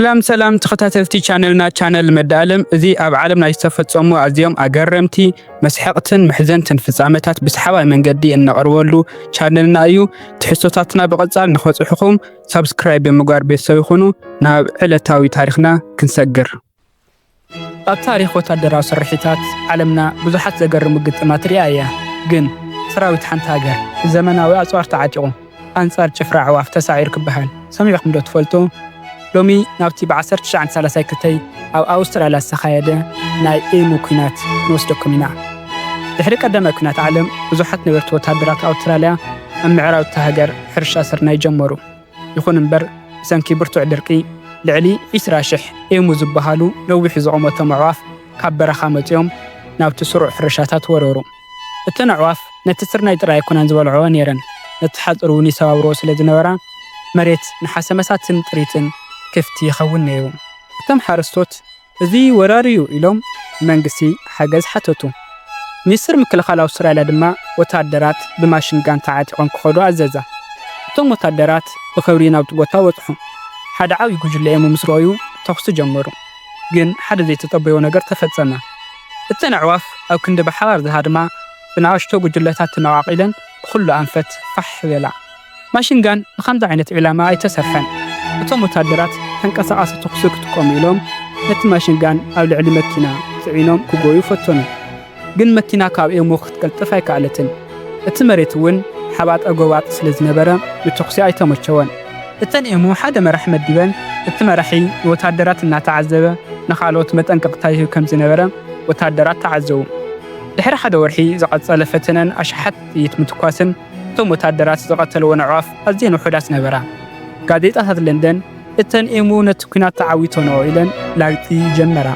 ሰላም ሰላም ተኸታተልቲ ቻነልና ቻነል መዳኣለም እዚ ኣብ ዓለም ናይ ዝተፈጸሙ ኣዝዮም ኣገረምቲ መስሐቕትን መሕዘንትን ፍጻመታት ብሰሓባይ መንገዲ እነቕርበሉ ቻነልና እዩ። ትሕዝቶታትና ብቐጻል ንኸጽሑኹም ሳብስክራይብ ብምግባር ቤተሰብ ይኹኑ። ናብ ዕለታዊ ታሪኽና ክንሰግር ኣብ ታሪኽ ወታደራዊ ስርሒታት ዓለምና ብዙሓት ዘገርሙ ግጥማት ርእያ እያ። ግን ሰራዊት ሓንቲ ሃገር ብዘመናዊ ኣጽዋር ተዓጢቑ ኣንጻር ጭፍራ ኣዕዋፍ ተሳዒሩ ክበሃል ሰሚዕኩምዶ ትፈልጡ? ሎሚ ናብቲ ብ ዓሰርተ ትሽዓን ሳላሳይ ክተይ ኣብ ኣውስትራልያ ዝተኻየደ ናይ ኤሙ ኲናት ክንወስደኩም ኢና። ድሕሪ ቀዳማይ ኲናት ዓለም ብዙሓት ነበርቲ ወታደራት ኣውትራልያ ኣብ ምዕራብ እታ ሃገር ሕርሻ ስርናይ ጀመሩ። ይኹን እምበር ብሰንኪ ብርቱዕ ድርቂ ልዕሊ ዒስራ ሽሕ ኤሙ ዝበሃሉ ነዊሑ ዝቖመቶም ኣዕዋፍ ካብ በረኻ መጺኦም ናብቲ ስሩዕ ሕርሻታት ወረሩ። እተን ኣዕዋፍ ነቲ ስርናይ ጥራይ ኣይኮናን ዝበልዕኦ ነይረን፣ ነቲ ሓጹር እውን ይሰባብርኦ ስለ ዝነበራ መሬት ንሓሰመሳትን ጥሪትን ክፍቲ ይኸውን ነይሩ። እቶም ሓረስቶት እዚ ወራር'ዩ ኢሎም ንመንግስቲ ሓገዝ ሓተቱ። ሚኒስተር ምክልኻል ኣውስትራልያ ድማ ወተሃደራት ብማሽን ጋን ተዓጢቖም ክኸዱ ኣዘዘ። እቶም ወተሃደራት ብኽብሪ ናብቲ ቦታ በጽሑ። ሓደ ዓብዪ ጕጅለ emu ምስ ረኣዩ ተዅሲ ጀመሩ። ግን ሓደ ዘይተጸበዮ ነገር ተፈጸመ። እተን ኣዕዋፍ ኣብ ክንዲ ብሓባር ዝሃድማ ብንኣሽቱ ጕጅለታት ተመቓቒለን ብዅሉ ኣንፈት ፋሕ በላ። ማሽን ጋን ንኸምዚ ዓይነት ዒላማ ኣይተሰርሐን። እቶም ወተሃደራት ተንቀሳቓሲ ተኹሲ ክጥቀሙ ኢሎም ነቲ ማሽን ጋን ኣብ ልዕሊ መኪና ጽዒኖም ክጎዩ ፈተኑ። ግን መኪና ካብ ኤሙ ክትቅልጥፍ ኣይከኣለትን። እቲ መሬት እውን ሓባጠ ጎባጥ ስለ ዝነበረ ንተኹሲ ኣይተመቸወን። እተን ኤሙ ሓደ መራሒ መዲበን፣ እቲ መራሒ ንወተሃደራት እናተዓዘበ ንኻልኦት መጠንቀቕታ ይህብ ከም ዝነበረ ወተሃደራት ተዓዘቡ። ድሕሪ ሓደ ወርሒ ዝቐጸለ ፈተነን ኣሽሓት ጥይት ምትኳስን፣ እቶም ወተሃደራት ዝቐተልወን ኣዕዋፍ ኣዝየን ውሑዳት ነበራ። ጋዜጣታት ለንደን፣ እተን ኤሙ ነቲ ኲናት ተዓዊተንኦ ኢለን ላግጺ ጀመራ።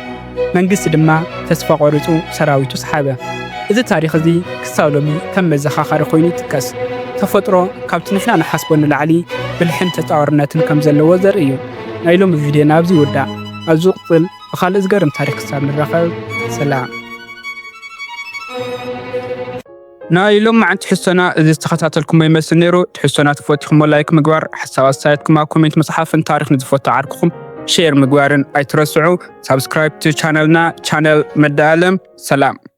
መንግስቲ ድማ ተስፋ ቆሪጹ ሰራዊቱ ሰሓበ። እዚ ታሪኽ እዚ ክሳብ ሎሚ ከም መዘኻኸሪ ኮይኑ ይጥቀስ። ተፈጥሮ ካብቲ ንሕና ንሓስቦ ንላዕሊ ብልሕን ተጻዋርነትን ከም ዘለዎ ዘርኢ እዩ። ናይ ሎሚ ቪድዮና ኣብዚ ይውዳእ። ኣብ ዝቕጽል ብኻልእ ዝገርም ታሪኽ ክሳብ ንራኸብ ሰላም። ናይ ሎማዓንቲ ሕሶና እዚ ዝተኸታተልኩሞ ይመስል ነይሩ ትሕሶና ተፈቲኹሞ ላይክ ምግባር ሓሳብ ኣስተያየትኩም ኣብ ኮሜንት ምፅሓፍን ታሪኽ ንዝፈቱ ዓርክኹም ሼር ምግባርን ኣይትረስዑ ሳብስክራይብ ቻነልና ቻነል መዳ ኣለም ሰላም